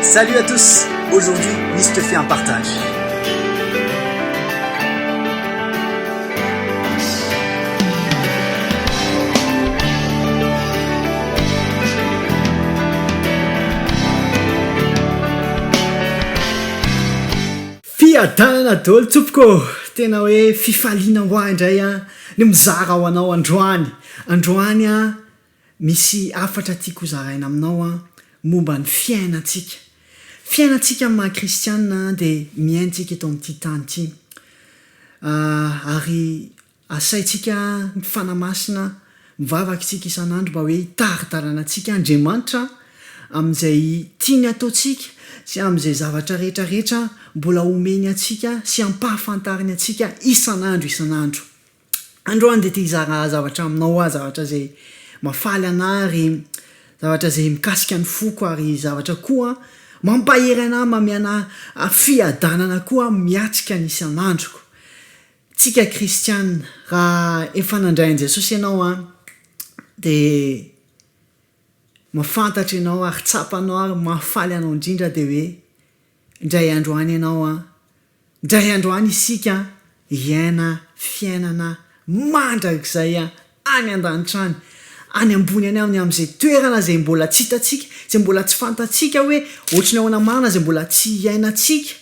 Salut à tous, aujourd'hui Miss te fait un partage. Fiadanana dolo tsopoko, tena hoe fifaliana ho ahy indray an, ny mizara ho anao androany, androany an, Misy hafatra tiako hozaraina aminao an, momba ny fiainantsika. Fiainantsika amin'ny maha kristianina dia miaintsika eto amin'ity tany ity. Ary asaintsika mifanahy masina, mivavaka isika isan'andro mba hoe hitari-dalana antsika Andriamanitra amin'izay tiany hataontsika sy amin'izay zavatra rehetra rehetra mbola homeny antsika sy hampahafantariny antsika isan'andro isan'andro. Androany dia te hizara zavatra aminao aho, zavatra izay mahafaly anà ary zavatra izay mikasika ny foko ary zavatra koa mampahery anà, mamehy anà fiadanana koa miatrika ny isan'androko. Tsika kristiana, raha efa nandray an'i Jesosy ianao an, dia mahafantatra ianao ary tsapanao ary mahafaly anao indrindra dia hoe, Indray andro any ianao an! Indray andro any isika hiaina fiainana mandrakizay any an-danitra any, any ambony any amin'ny amin'izay toerana izay mbola tsy hitantsika, izay mbola tsy fantatsika hoe ohatry ny ahoana marina, izay mbola tsy iainantsika,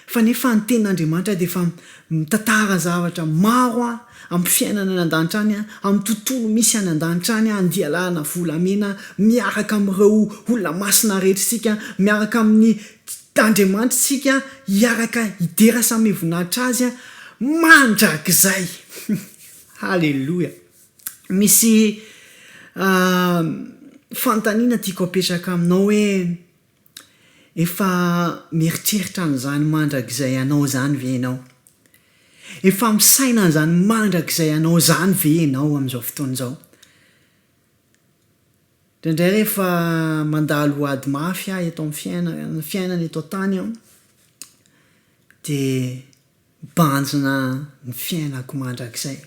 fa nefa ny tenin'Andriamanitra dia efa mitantara zavatra maro. amin'ny fiainana any an-danitra any, amin'ny tontolo misy any an-danitra any, andialanana volamena miaraka amin'ireo olona masina rehetra isika, miaraka amin'ny Andriamanitra isika, hiaraka hidera samy mivoninahitra Azy mandrakizay. Haleloia! Misy fanontaniana tiako apetraka aminao hoe. Efa mieritreritra an'izany mandrakizay anao izany ve ianao? Efa misaina an'izany mandrakizay anao izany ve ianao amin'izao fotoana izao? Indraindray rehefa mandalo ady mafy aho eto amin'ny fiaina- fiainana eto an-tany aho, dia mibanjina ny fiainako mandrakizay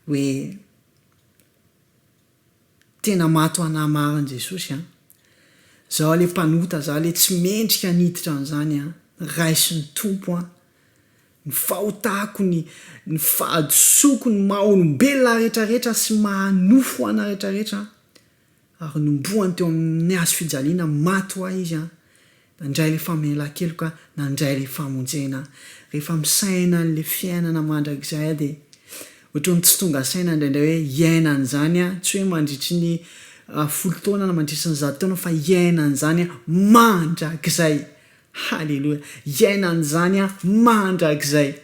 hoe. Tena maty ho anahy marina Jesosy a! Zaho le mpanota zaho le tsy mendrika aniditra an'izany a! Raiso ny Tompo an! Ny fahotako ny ny fahadisoako ny maha olombelona ahy rehetra rehetra sy maha nofo ana rehetra rehetra ary nombohany teo amin'ny hazo fijaliana maty ho ahy izy a! Nandray ilay famelan-keloka, nandray ilay famonjena aho. Rehefa misaina an'ilay fiainana mandrakizay aho dia ohatran'ny tsy tonga saina indraindray hoe hiaina an'izany aho, tsy hoe mandritry ny folo taona na mandritry ny zato taona fa hiaina an'izany aho mandrakizay. Haleloia! Hiaina an'izany aho mandrakizay.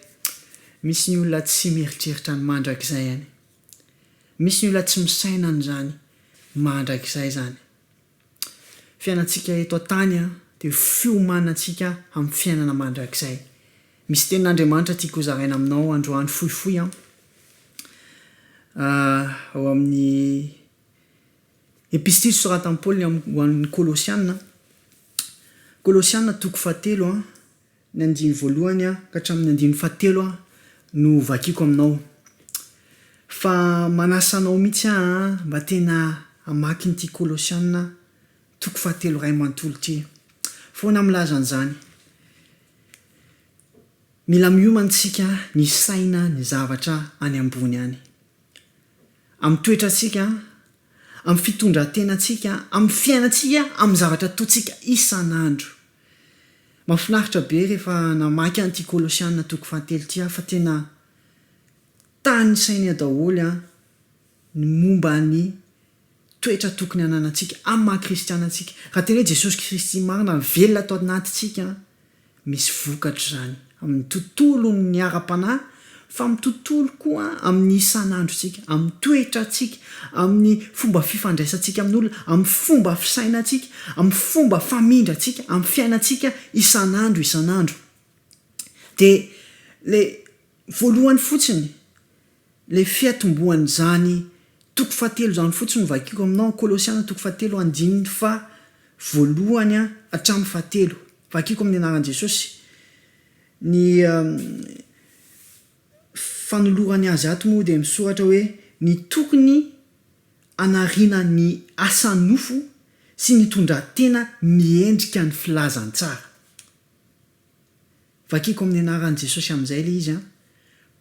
Misy ny olona tsy mieritreritra ny mandrakizay any. Misy ny olona tsy misaina an'izany mandrakizay izany. Fiainantsika eto an-tany dia ho fiomanantsika amin'ny fiainana mandrakizay. Misy tenin'Andriamanitra tiako hozaraina aminao androany fohifohy an. Ao amin'ny Epistily soratan'i Paoly ho an'ny Kolosiana, Kolosiana toko fahatelo an. Ny andiny voalohany ka hatramin'ny andiny fahatelo no vakiako aminao. Fa manasa anao mihitsy aho mba tena hamaky an'ity Kolosiana toko fahatelo iray manontolo ity. Foana milaza an'izany. Mila miomana isika misaina ny zavatra any ambony any. Amin'ny toetrantsika amin'ny fitondran-tenantsika, amin'ny fiainantsika, amin'ny zavatra ataontsika isan'andro. Mahafinaritra be rehefa namaky an'ity Kolosiana toko fahatelo ity aho fa tena tanisainy eo daholo ny momba ny toetra tokony hananantsika amin'ny maha-kristiana antsika. Raha tena hoe Jesosy Kristy marina no velona ato anatintsika, Misy vokatra izany amin'ny tontolon'ny ara-panahy fa amin'ny tontolo koa amin'ny isan'androntsika, amin'ny toetrantsika, amin'ny fomba fifandraisantsika amin'olona, amin'ny fomba fisainantsika, amin'ny fomba famindrantsika, amin'ny fiainantsika isan'andro isan'andro. Dia ilay voalohany fotsiny. Ilay fiatombohan'izany toko fahatelo izany fotsiny no vakiko aminao an, Kolosiana toko fahatelo andininy faha voalohany an hatramin'ny fahatelo. Vakiko amin'ny anaran'i Jesosy ny fanolorany azy ato moa dia misoratra hoe ny tokony hanariana ny asa nofo sy ny tondrantena miendrika ny filazantsara. Vakiko amin'ny anaran'i Jesosy amin'izay ilay izy an!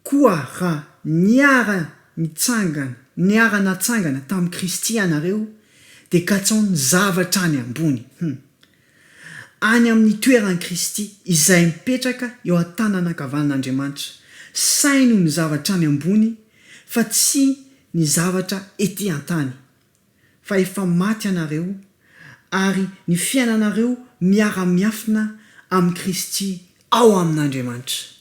Koa raha niara-nitsangana, niara-natsangana tamin'i Kristy ianareo, dia katsaho ny zavatra any ambony, hum, any amin'ny toeran'i Kristy, izay mipetraka eo an-tanana ankavanin'Andriamanitra. Saino ny zavatra any ambony, fa tsy ny zavatra ety an-tany. fa efa maty ianareo, ary ny fiainanareo miara-miafina amin'i Kristy ao amin'Andriamanitra.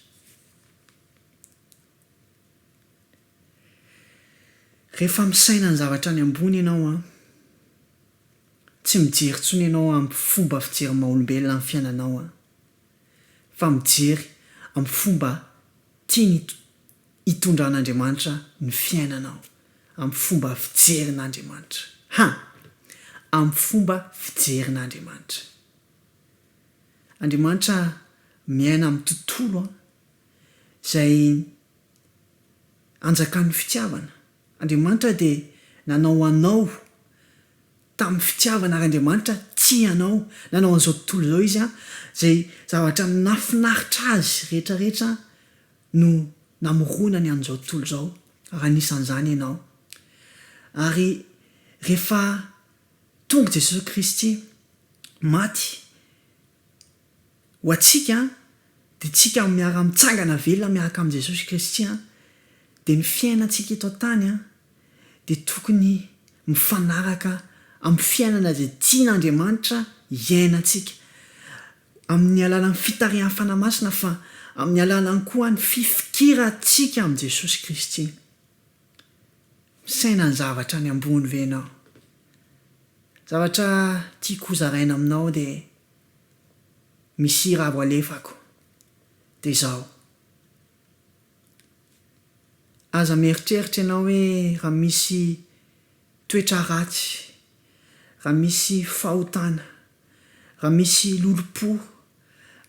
Rehefa misaina ny zavatra any ambony ianao an, tsy mijery intsony ianao amin'ny fomba fijery maha-olombelona ny fiainanao an, fa mijery amin'ny fomba tian'i hitondran'Andriamanitra ny fiainanao amin'ny fomba fijerin'Andriamanitra. Ha! Amin'ny fomba fijerin'Andriamanitra. Andriamanitra miaina amin'ny tontolo izay anjakan'ny fitiavana. Andriamanitra dia nanao anao tamin'ny fitiavana ary Andriamanitra tia anao. Nanao an'izao tontolo izao Izy izay zavatra nahafinaritra Azy rehetra rehetra no namorona ny an'izao tontolo izao, raha anisan'izany ianao. Ary rehefa tonga Jesosy Kristy, maty ho antsika, dia isika miara-mitsangana velona miaraka amin'i Jesosy Kristy, dia ny fiainantsika eto an-tany dia tokony mifanaraka amin'ny fiainana izay tian'Andriamanitra hiainantsika. amin'ny alalan'ny fitarihan'ny Fanahy Masina fa amin'ny alalan'ny koa ny fifikirantsika amin'i Jesosy Kristy. Misaina ny zavatra any ambony ve ianao? Ny zavatra tiako hozaraina aminao dia misy hira avo alefako dia izao, Aza mieritreritra ianao hoe raha misy toetra ratsy, raha misy fahotana, raha misy lolompo,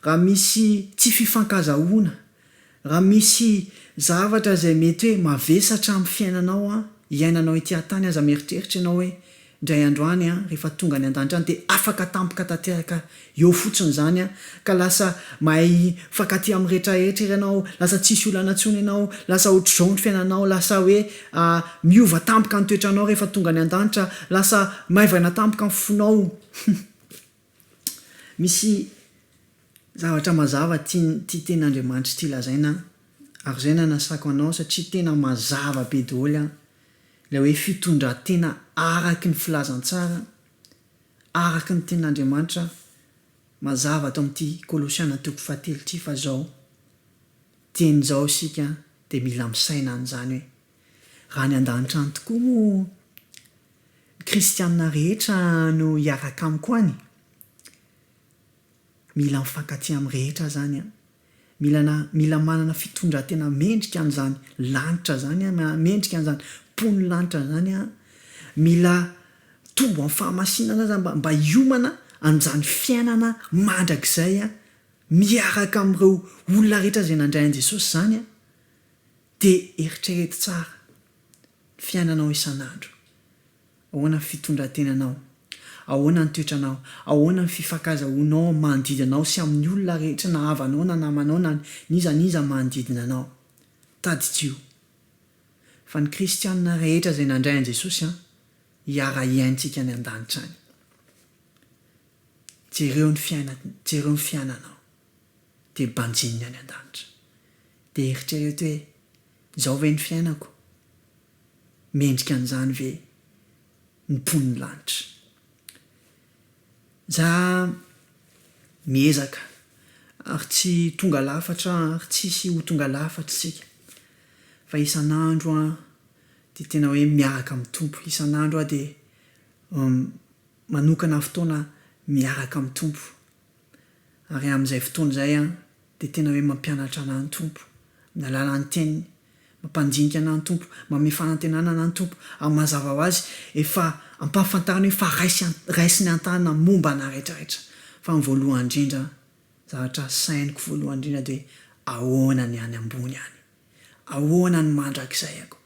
raha misy tsy fifankazahoana, raha misy zavatra izay mety hoe mavesatra amin'ny fiainanao an, iainanao ety an-tany aza mieritreritra ianao hoe indray andro any an, rehefa tonga any an-danitra any dia afaka tampoka tanteraka Eo fotsiny zany an, ka lasa mahay mifankatia amin'ny rehetra rehetra ery ianao, lasa tsisy olana intsony ianao, lasa otrzao ny fiainanao, lasa hoe miova tampoka ny toetranao rehefa tonga any an-danitra, lasa maivana tampoka ny fonao. Hum. Misy zavatra mazava tian'ity tenin'Andriamanitra ity lazaina an, ary zay no anasako anao satria tena mazava be doholy an, ilay hoe fitondran-tena araky ny filazantsara, araka ny tenin'Andriamanitra mazava ato amin'ity Kolosiana toko fahatelo ity fa izao dieny izao isika dia mila misaina an'izany hoe raha any an-danitra any tokoa moa ny kristiana rehetra no hiaraka amiko any? Mila mifankatia amin'ny rehetra izany an! Mila na mila manana fitondran-tena mendrika an'izany lanitra izany an, mendrika an'izany mponin'ny lanitra izany an, mila mitombo amin'ny fahamasinana aza mba mba hiomana an'izany fiainana mandrakizay an, miaraka amin'ireo olona rehetra izay nandray an'i Jesosy izany an, dia eritrereto tsara ny fiainanao isan'andro. Ahoana ny fitondran-tenanao? Ahoana ny toetranao? Ahoana ny fifankazahoanao amin'ny manodidina anao sy amin'ny olona rehetra na havanao na namanao na n'iza n'iza manodidina anao? Tadidio fa ny kristiana rehetra izay nandray an'i Jesosy hiara-hiaintsika any an-danitra any. Jereo ny fiainany, jereo ny fiainanao dia banjininy any an-danitra. Dia eritrereto hoe, Izao ve ny fiainako? mendrika an'izany ve ny mponin'ny lanitra? Za miezaka ary tsy tonga lafatra ary tsisy ho tonga lafatra isika fa isan'andro aho dia tena hoe miaraka amin'ny Tompo, isan'andro aho dia manokana fotoana miaraka amin'ny Tompo. Ary amin'izay fotoana izay aho dia tena hoe mampianatra anà ny Tompo, ny alalan'ny Teniny, mampandinika anà ny Tompo, manome fanantenana anà ny Tompo, ary mazava ho azy efa ampahafantariny hoe efa raisiny an-tanana momba anà rehetrarehetra. Fa ny voalohany indrindra, zavatra sainiko voalohany indrindra dia ahoana ny any ambony any? Ahoana ny mandrakizay ako?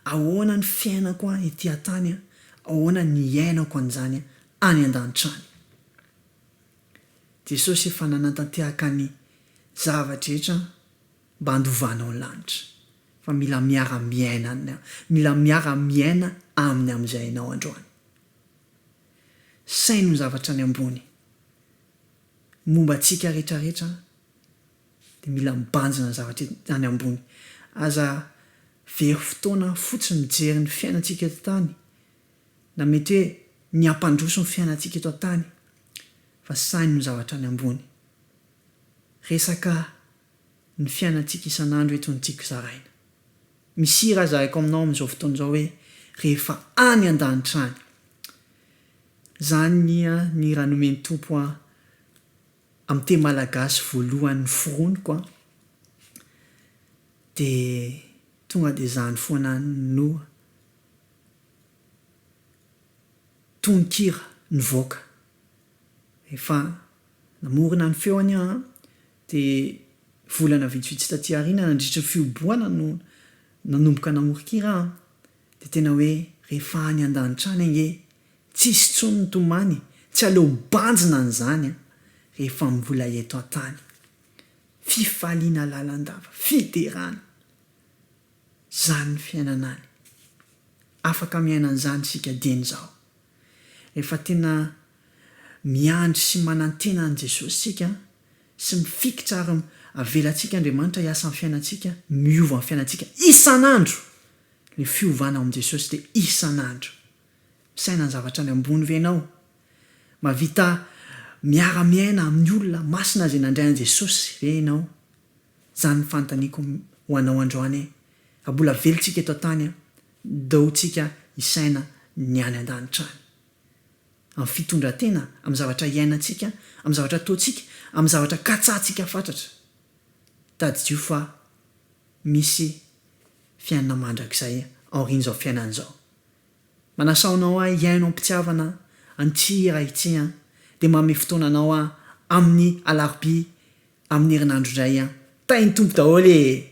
Ahoana ny fiainako an ity an-tany an? Ahoana ny iainako an'izany any an-danitra any? Jesosy efa nanantantehaka ny zava-drehetra mba handovanao ny lanitra fa mila miara-miaina Aminy mila miara-miaina Aminy amin'izay ianao androany. Saino ny zavatra any ambony momba antsika rehetrarehetra dia mila mibanjina ny zavatra any ambony. Aza very fotoana fotsiny mijery ny fiainantsika eto an-tany na mety hoe ny hampandroso ny fiainantsika eto an-tany fa sahy noho ny zavatra any ambony. Resaka ny fiainantsika isan'andro eto no tiako zaraina. Misy hira zaraiko aminao amin'izao fotoana izao hoe rehefa any an-danitra any. Izany ny hira nomen'ny Tompo ahy amin'ny teny malagasy voalohany noforoniko an, dia tonga dia izany foana no. tononkira nivoaka. Efa namorona ny feo anie an! Dia volana vitsivitsy taty aoriana nandritry ny fihobohana no nanomboka namoron-kira aho. Dia tena hoe rehefa any an-danitra any ange tsisy intsony ny tomany, tsy aleo mibanjina an'izany an! rehefa mbola eto an-tany. Fifaliana lalandava, fiderana. Izany ny fiainana any. Afaka miaina an'izany isika dieny izao. Rehefa tena miandry sy manantena an'i Jesosy isika sy mifikitra ary avelantsika Andriamanitra hiasa amin'ny fiainantsika, miova amin'ny fiainantsika isan'andro. Ilay fiovana ao amin'i Jesosy dia isan'andro. Misaina ny zavatra any ambony ve ianao? Mahavita miara-miaina amin'ny olona masina izay nandray an'i Jesosy ve ianao? Zany fantaniko ho anao androany e! Raha mbola velo tsika eto an-tany an, dou tsika hisaina ny any an-danitra any. Amin'ny fitondran-tena, amin'ny zavatra iainantsika, amin'ny zavatra ataontsika, amin'ny zavatra katsahantsika fatratra. Tadidio fa misy fiainana mandrakizay aorian'izao fiainana izao. Manasao anao aho hihaino am-pitiavana an'ity hira ity an! Dia manome fotoana anao aho amin'ny alarobia amin'ny herinandro indray an! Tahin'ny Tompo daholo ee!